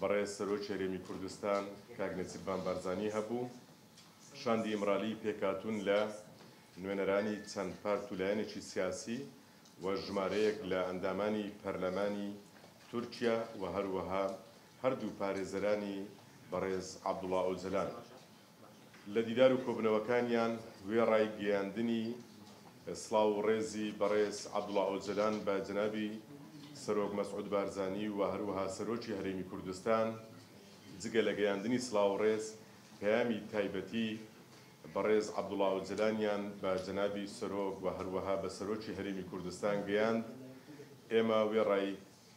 Birêz Serokê Herêmî Kurdistan kak Nêçîrvan Barzanî hebû. Şandî Îmralî pêkhatûn li nûêneranî çend part û layanekî siyasî û jimareyek li endamanî perlemanî Tirkîya û herwiha her dû parêzeranî Birêz Abdullah Ocalan, Li dîdar û kobûnewekaniyan wê rayîgeyandinî silav û rêzî berêz Abdullah Ocalan be cenabî Serok Mesûd Barzanî û her wiha Serokê Herêmî Kurdistan cigê li geyandinî silav û rêz peyamî taybetî berêz Abdullah Ocalanîyan be cenabî Serok û her wiha be Serokê Herêmî Kurdistan geyand êma wê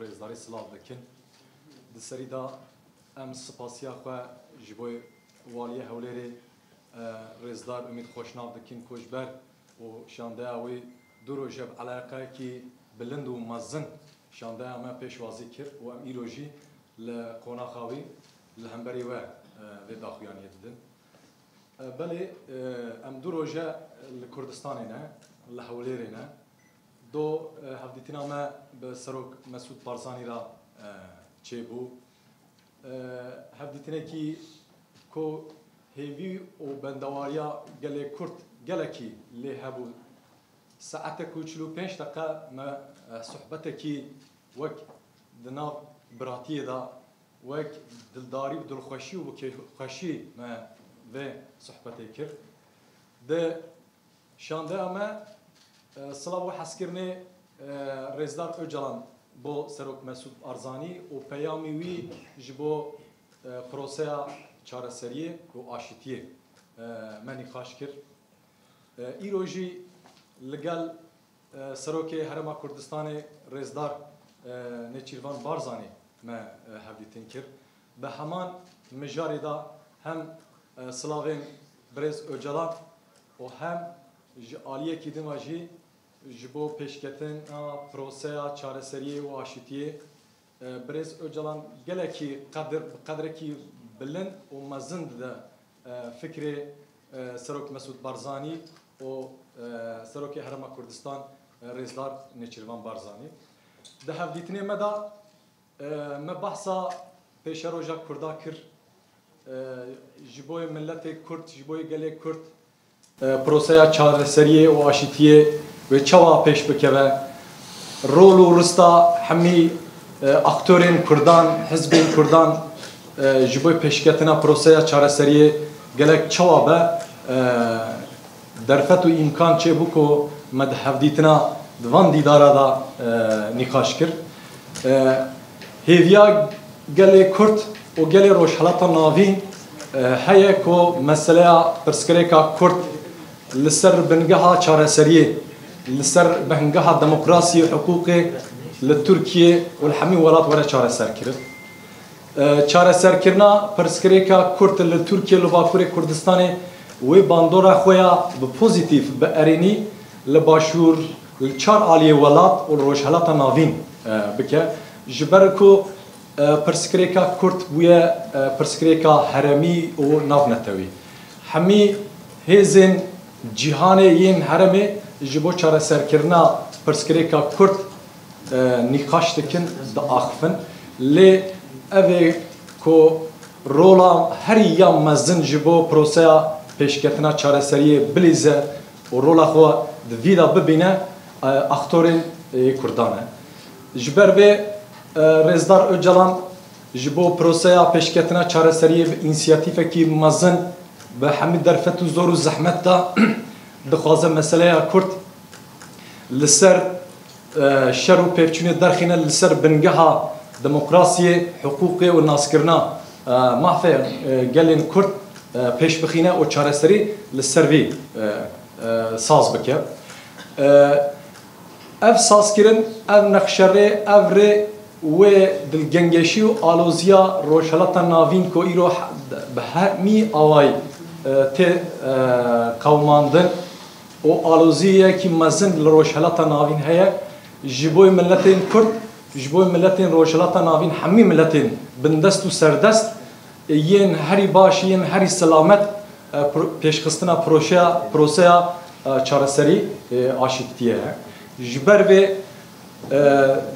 Rêzdarî silav dikin. Di serî de em spasiya xwe ji bo Waliyê Hewlêrê Rêzdar Umît Xweşnav dikin ku ji ber û şandeya wî du roje bi eleqeyekî bilind û mezin şandeya me pêşwazî kir û em îro jî li qonaxa wî li hemberî we vê daxuyaniyê didin. Belê em du roje li Kurdistanê ne, li Hewlêrê ne. Do hevdîtina me bi Serok Mesûd Barzanî re çêbû. Hevdîtinekî ku hêvî û bendewariya gelê Kurd gelekî lê hebû. Saetek û çil û pênc deqe me sohbetekî wek di nav biratiyê de wek dildarî bi dilxweşî û bi kêfxweşî me vê sohbetê kir. Di Şandeya me silav û hezkirinê Rêzdar Ocalan bo Serok Mesûd Barzanî û peyamî wî ji bo proseya çareseriyê û aşitiyê me nîqaş kir. Îro jî li gel Serokê Herêma Kurdistanê Rêzdar Nêçîrvan Barzanî me hevdîtin kir. Bi heman mijarê de hem silavên birêz Ocalan û hem ji aliyekî din ve jî ji bo pêşketina proseya çareseriyê û aşitiyê birêz Ocalan gelekî qedir bi qedrekî bilind û mezin dide fikrê Serok Mesûd Barzanî û Serokê Herêma Kurdistan Rêzdar Nêçîrvan Barzanî. Di hevdîtinê me de Me behsa pêşeroja Kurda kir. Ji bo yê miletê Kurd, ji bo yê gelê Kurd proseya çareseriyê û aşîtiyê wê çawa pêş bikeve? Rol û rista hemî aktorên Kurdan, hizbên Kurdan ji bo pêşketina proseya çareseriyê gelek çawa be? Derfet û îmkan çêbû ku me di hevdîtina di van dîdara de nîqaş kir. Hêviya gelê Kurd û gelê Rojhilata Navîn heye ku meseleya pirsgirêka Kurd li ser bingeha çareseriyê, li ser bingeha demokrasiyê û hiqûqê li Tirkiyê û li hemî welat were çareserkirin. Çareserkirina pirsgirêka Kurd li Tirkiyê li Bakurê Kurdistanê wê bandora xwe ya bi pozîtîf bi erênî li Başûr, li çar aliyê welat û li Rojhilata Navîn bike. Ji ber ku pirsgirêka Kurd bûye pirsgirêka heremî û navnetewî, hemî hêzên cîhanê yên heremê ji bo çareserkirina pirsgirêka Kurd nîqaş dikin, diaxivin lê ev ê ku rola herî ya mezin ji bo proseya pêşketina çareseriyê bilîze û rola xwe di vî de bibîne aktorên yê Kurdan e. Ji ber vê Rêzdar Ocalan ji bo proseya pêşketina çareseriyê bi însiyatîfekî mezin bi hemû derfet û zor û zehmet de dixwaze meseleya Kurd li ser şer û pêkçûnê derxîne li ser bingeha demokrasiyê, hiqûqê û naskirina mafê gelên Kurd pêş bixîne û çareserî li ser vî saz bike. Ev sazkirin, ev nexşerê, ev rê wê dilgengêşî û aloziya Rojhilata Navîn ku îro bi hemî awayî tê qewimandin, û aloziyeyekî mezin li Rojhilata Navîn heye ji bo miletên Kurd, ji bo miletên Rojhilata Navîn hemî miletên bindest û serdest yên herî baş yên herî silamet pêşxistina projeya proseya çareserî aşîbtiyê ye. Ji ber vê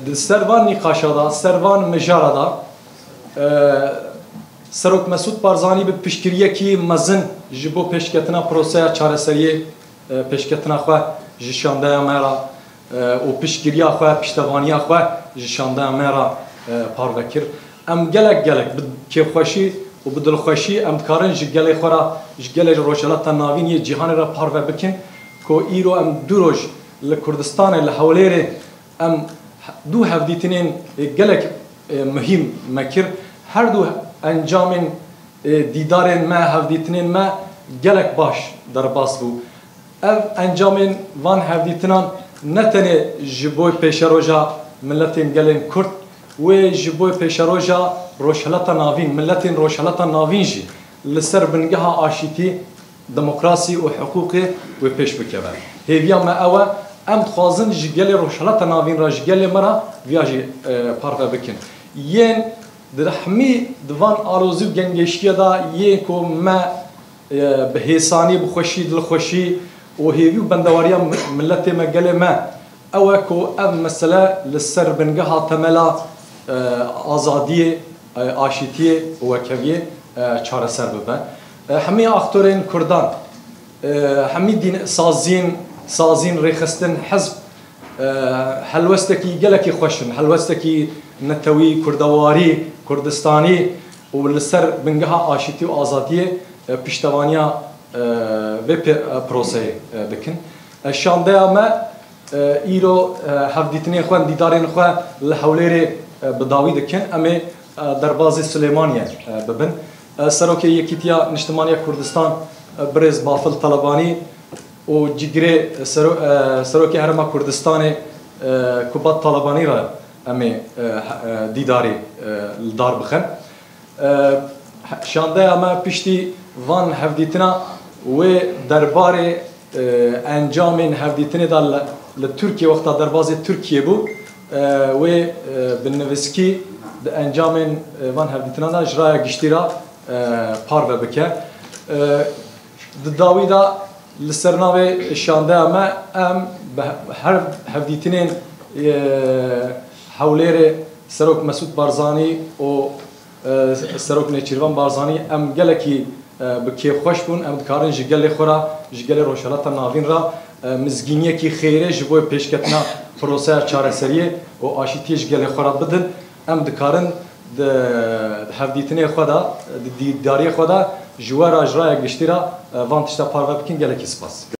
di ser van nîqaşa de, ser van mijara de Serok Mesûd Barzanî bi piştgiriyekî mezin ji bo pêşketina proseya çareseriyê pêşketina xwe ji şandeya me re û piştgiriya xwe, piştevaniya xwe ji şandeya me re parve kir. Em gelek gelek bi kêfxweşî û bi dilxweşî em dikarin ji gelê xwe re, ji gelê Rojhilata Navîn yê cîhanê re parve bikin ku îro em du roj li Kurdistanê li Hewlêrê Em du hevdîtinên gelek muhîm me kir. Her du encamên dîdarên me, hevdîtinên me gelek baş derbas bû. Ev encamên van hevdîtinan ne tenê ji bo pêşeroja miletên gelên Kurd wê ji bo pêşeroja Rojhilata Navîn, miletên Rojhilata Navîn jî li ser bingeha aşîtî demokrasî û hiqûqê wê pêş bikeve. Hêviya me ew e, em dixwazin ji gelê Rojhilata Navîn re, ji gelê me re viya jî parve bikin. Yên direhmî di van alozî û gengeştiye de yê ku me bi hêsanî, bi xweşî, dilxweşî û hêvî û bendewariya miletê me, gelê me ew e ku ev mesele li ser bingeha temela azadiyê, aşîtiyê û wekeviyê çareser bibe. Hemî aktorên kurdan, hemî dîn, sazîn, sazîn, rêxistin, hizb helwestekî gelekî xweş in, helwestekî netewî, kurdewarî, kurdistanî û li ser bingeha aşitî û azadiyê piştevaniya vê proseyê dikin. Şandeya me îro hevdîtinên xwe, dîdarên xwe li Hewlêrê bi dawî dikin. Em ê derbazê Silêmaniyê bibin. Serokê Yekîtiya Niştimaniya Kurdistan Birêz Bafil Talebanî û cîgirê Serokê Herêma Kurdistanê Kubat Talebanî re em ê dîdarê li dar bixin. Şandeya me piştî van hevdîtina wê derbarê encamên hevdîtinê de li Tirkiyê wexta derbazê Tirkiyê bû, Wê binivîskî di encamên van hevdîtinan de ji raya giştî re parve bike. Di dawî de li ser navê Şandeya me em bi her hevdîtinên Hewlêrê Serok Mesûd Barzanî û Serok Nêçîrvan Barzanî, Em gelekî bi kêf xweş bûn, em dikarin ji gelê xwe re, ji gelê Rojhilata Navîn re mizgîniyekî xêrê ji bo pêşketina proseya çareseriyê û aşîtiyê ji gelê xwe re bidin. Em dikarin di hevdîtinê xwe de, di dîtdariyê xwe de ji we re, ji raya giştî re van tişta parve bikin. Gelekî spas.